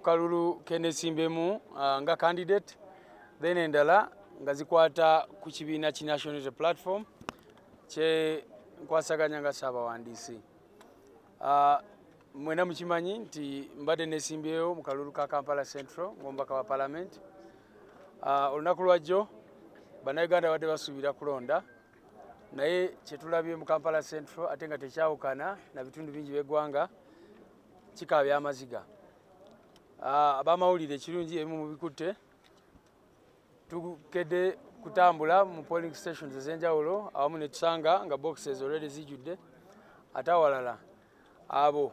kalulu kenesimbemu uh, nga candidate then endala nga zikwata ku kibiina ki national unity platform kye nkwasaganya nga saabawandiisi uh, mwena mukimanyi nti mbadde nesimbyewo mu kalulu ka kampala central ngaomubaka wa palamenti uh, olunaku lwajjo bannayuganda badde basuubira kulonda naye kyetulabye mu kampala central ate nga tekyawukana na bitundu bingi by'eggwanga kikaabya amaziga ah, abamawulire ekirungi ebimu mubikutte tukedde kutambula mu polling stations ez'enjawulo awamu ne tusanga nga boxes already zijjudde ate awalala abo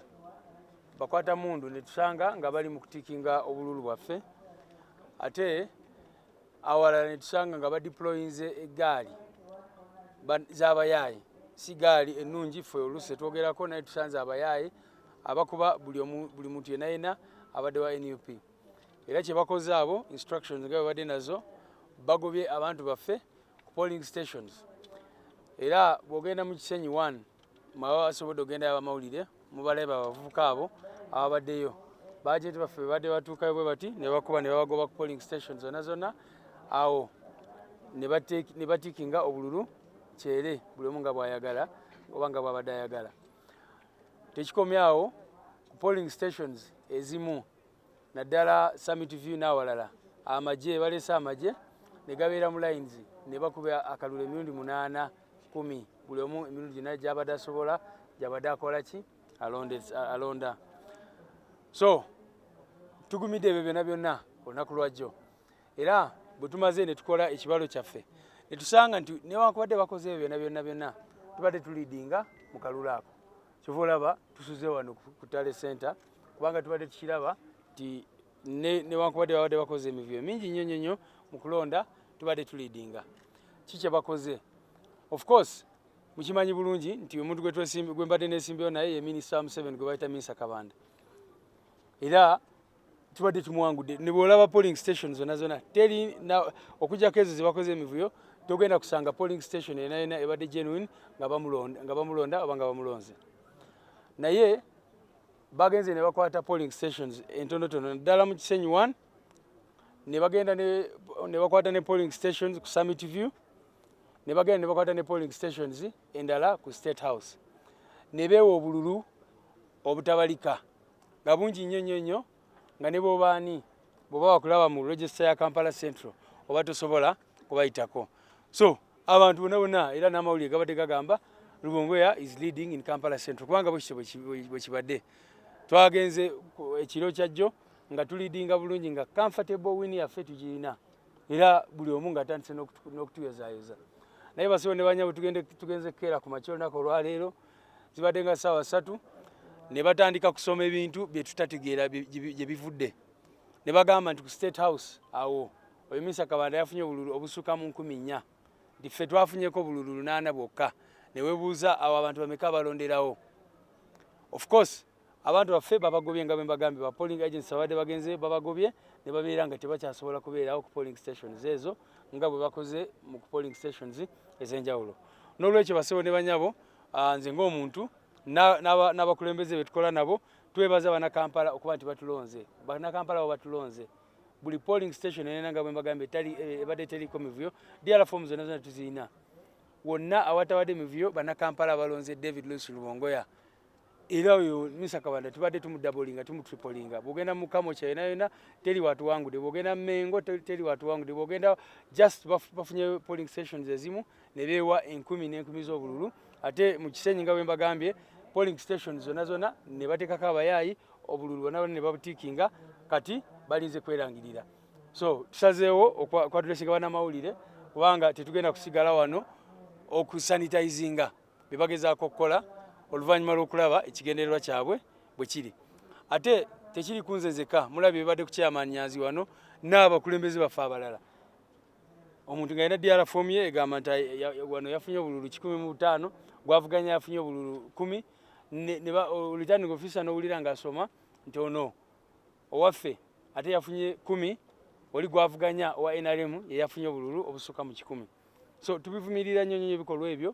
bakwata mundu ne tusanga nga bali mu kutikinga obululu bwaffe ate awalala ne tusanga nga badiployinze eggaali z'abayaaye si gaali ennungi ffe oluusi etwogerako naye tusanze abayaaye abakuba buli muntu yena yena abadde wa nup era kye bakoze abo instructions nga bebadde nazo bagobye abantu baffe ku polling stations era bw'ogenda mu kisenyi one mwaba basobodde ogendayo abamawulire mubalabe abavubuka abo ababaddeyo bajenti baffe bebadde batuukayo bwe bati ne bakuba ne babagoba ku polling station zonna zonna awo ne batikinga obululu kyere buli omu nga bwayagala oba nga bwabadde ayagala tekikomyawo ku polling stations ezimu naddala summit view n'awalala amagye balese amagye ne gabeera mu lines ne bakuba akalulu emirundi munaana kumi buli omu emirundi gyonna gyabadde asobola gyabadde akola ki alonda so tugumidde ebyo byonna byonna olunaku lwajjo era bwe tumaze ne tukola ekibalo kyaffe ne tusanga nti newankubadde bakoze ebyo byonna byonna byonna tubadde tuliidinga mu kalulu ako kyova olaba tusuze wano ku tale center kubanga tubadde tukiraba nti newankubadde babadde bakoze emivuyo mingi nnyo nnyo nnyo mu kulonda tubadde tulidinga ki kyebakoze of course mukimanyi bulungi nti omuntu gwembadde nesimbeyo naye ye minisita wa museveni gwe bayita minisa kabanda era kibadde kimwangudde nebwolaba polling station zona zona teri okujako ezo zebakoze emivuyo togenda kusanga polling station yena yena ebadde genuine nga bamulonda oba nga bamulonze naye bagenze nebakwata polling stations entonotono naddala mu kisenyi one nebagenda nebakwata ne polling stations ku summit view nebagenda nebakwata ne polling stations endala ku state house nebeewa obululu obutabalika nga bungi nnyo nnyo nnyo nga ne bwoba ani bwoba wakulaba mu register ya kampala central oba tosobola kubayitako so abantu bona bona era n'amawulire gabadde gagamba lubongoya is leading in kampala central kubanga bwekityo bwekibadde twagenze ekiro kyajjo nga tulidinga bulungi nga comfortable win yaffe tugirina era buli omu nga atandise n'okutuyozaayoza naye basibo ne banyabo tugenze kukeera ku makya olunaku olwaleero zibadde nga ssaawa ssatu ne batandika kusoma ebintu bye tutategeera gye bivudde ne bagamba nti ku state house awo oyo minisa kabanda yafunye obululu obusukka mu nkumi nnya nti ffe twafunyeko obululu lunaana bwokka ne webuuza awo abantu bameka balonderawo of course Abantu baffe babagobye nga bwembagambye ba polling agents babadde bagenze babagobye ne babeera nga tebakyasobola kubeerawo ku polling stations ezo nga bwe bakoze mu ku polling stations ez'enjawulo. N'olwekyo basebo ne banyabo ah, nze ng'omuntu n'abakulembeze be tukola nabo twebaza Bannakampala okuba nti batulonze. Bannakampala bo batulonze buli polling station enena nga bwembagambye eh, ebadde teriko mivuyo diala fomu zonna zonna tuzirina wonna awatabadde mivuyo Bannakampala balonze David Luis Lubongoya era oyo Musa Kabanda tubadde tumudabolinga tumutripolinga bwogenda mu Kamwokya yona yona teri watuwangude bwogenda Mengo teri watuwangude bwogenda just bafunye polling stations ezimu ne beewa enkumi n'enkumi z'obululu ate mu Kisenyi nga bwe mbagambye polling stations zona zona ne bateekako abayaayi obululu bona bona ne babutiikinga kati balinze kwerangirira so tusazeewo okwatulesinga banamawulire kubanga tetugenda kusigala wano okusanitizinga bye bagezaako okukola oluvannyuma lw'okulaba ekigendererwa kyabwe bwe kiri ate tekiri kunze nzekka mulabye bibadde ku kyamanyanzi wano n'abakulembeze baffe abalala omuntu nga yina diara fom ye egamba nti wano yafunye obululu kikumi mu butaano gwavuganya yafunye obululu kumi returning officer nowulira nga asoma nti ono Owaffe ate yafunye kumi oli gwavuganya owa nrm yeyafunye obululu obusuka mu kikumi so tubivumirira nnyo nnyo ebikolwa ebyo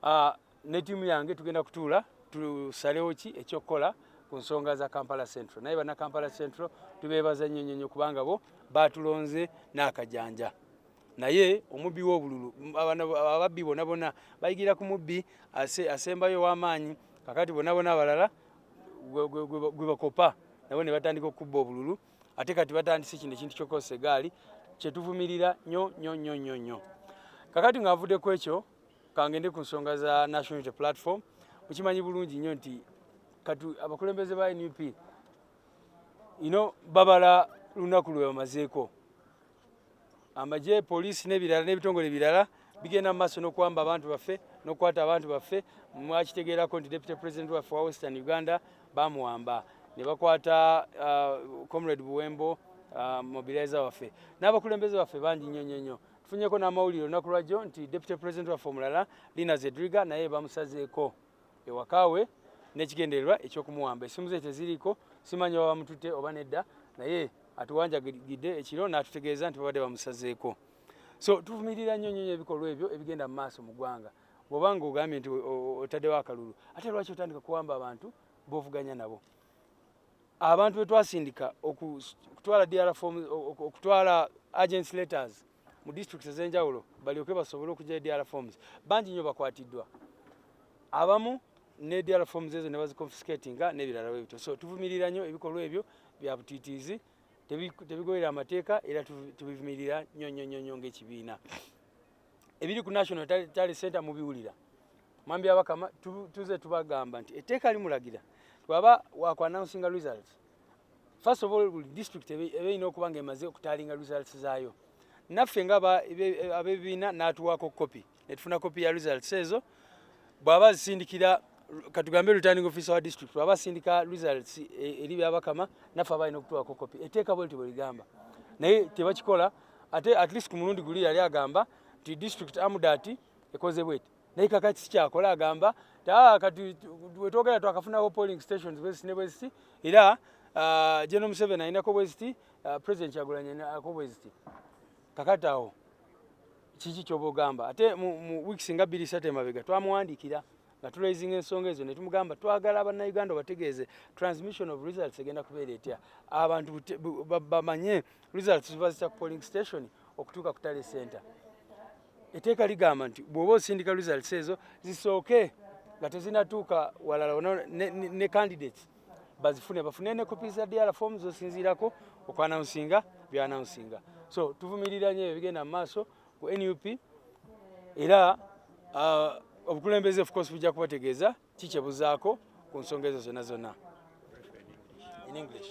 ah, ne tiimu yange tugenda kutuula tusalewo ki ekyokukola ku nsonga za kampala central naye bana kampala central tubeebaza nnyo nnyo nnyo kubanga bo baatulonze n'akajanja naye omubbi w'obululu ababbi bona bona bayigira ku mubbi asembayo ow'amaanyi kakati bona bona abalala gwe bakopa nabo ne batandika okukubba obululu ate kati batandise kino ekintu kyokosa egaali kyetuvumirira nyo nyo nyo nyo nyo kakati ng'avudde ku ekyo kangende ku nsonga za national unity platform mukimanyi bulungi nnyo nti kati abakulembeze ba nup ino babala lunaku lwe bamazeeko amagye poliisi n'ebirala n'ebitongole birala bigenda mu maaso n'okuwamba abantu baffe n'okukwata abantu baffe mwakitegeerako nti deputy president waffe wa western uganda bamuwamba ne bakwata uh, comrade buwembo uh, mobilizer waffe n'abakulembeze baffe bangi nnyo nnyo nnyo tufunyeko n'amawulire olunaku lwajjo nti deputy president waffe omulala lina zedriga naye bamusazeeko ewaka we n'ekigendererwa eky'okumuwamba. Essimu ze teziriiko, simanyi oba bamututte oba nedda, naye atuwanjagidde ekiro n'atutegeeza nti babadde bamusazeeko. So tuvumirira nnyo nnyo ebikolwa ebyo ebigenda mu maaso mu ggwanga. Bw'oba ng'ogambye nti otaddewo akalulu, ate lwaki otandika kuwamba abantu b'ovuganya nabo? abantu betwasindika okutwala DR form okutwala agents letters mu district ezenjawulo balyoke basobole okujja edr forms bangi nyo bakwatiddwa abamu ne dr forms ezo ne baziconfiscatinga nebirala bwe bityo so tuvumirira nyo ebikolwa ebyo bya butitiizi tebigoyera amateeka era tubivumirira nyo nyo nyo nyo ngaekibiina ebiri ku national tale center mubiwulira mwambi abakama tuze tubagamba nti etteeka limulagira twaba wakuannouncinga results first of all buli district ebe erina okuba nga emaze okutalinga results zaayo naffe nga abebibiina n'atuwaako kopi netufuna kopi ya results ezo bw'aba azisindikira katugambe returning officer wa district bw'aba asindika results e, eri byabakama naffe aba alina okutuwaako kopi eteeka bwe liti bwe ligamba naye tebakikola ate at least ku mulundi guli yali agamba nti district amudati ekoze bweti naye kakati sikyakola agamba ah, kati wetwogera twakafunawo polling stations bweziti ne bweziti era ah, general museveni alinako bweziti ah, president kyagulanyenako bweziti kakati awo kiki kyoba ogamba ate mu weeks nga bbiri satu emabega twamuwandikira nga tulaizinga ensonga ezo ne tumugamba twagala abannayuganda bategeeze transmission of results egenda kubeera etya abantu bamanye results ziba zitya ku polling station okutuuka ku tale center eteeka ligamba nti bwoba osindika results ezo zisooke nga tezinatuuka walala ona ne, ne, ne candidates bazifune bafune ne kopi za dr form zosinziirako okwanawunsinga byanawunsinga so tuvumirira nyo ebigenda mu maaso ku nup era uh, obukulembeze of course bujja kubategeeza kikyebuzaako ku nsonga ezo zonna zonna in english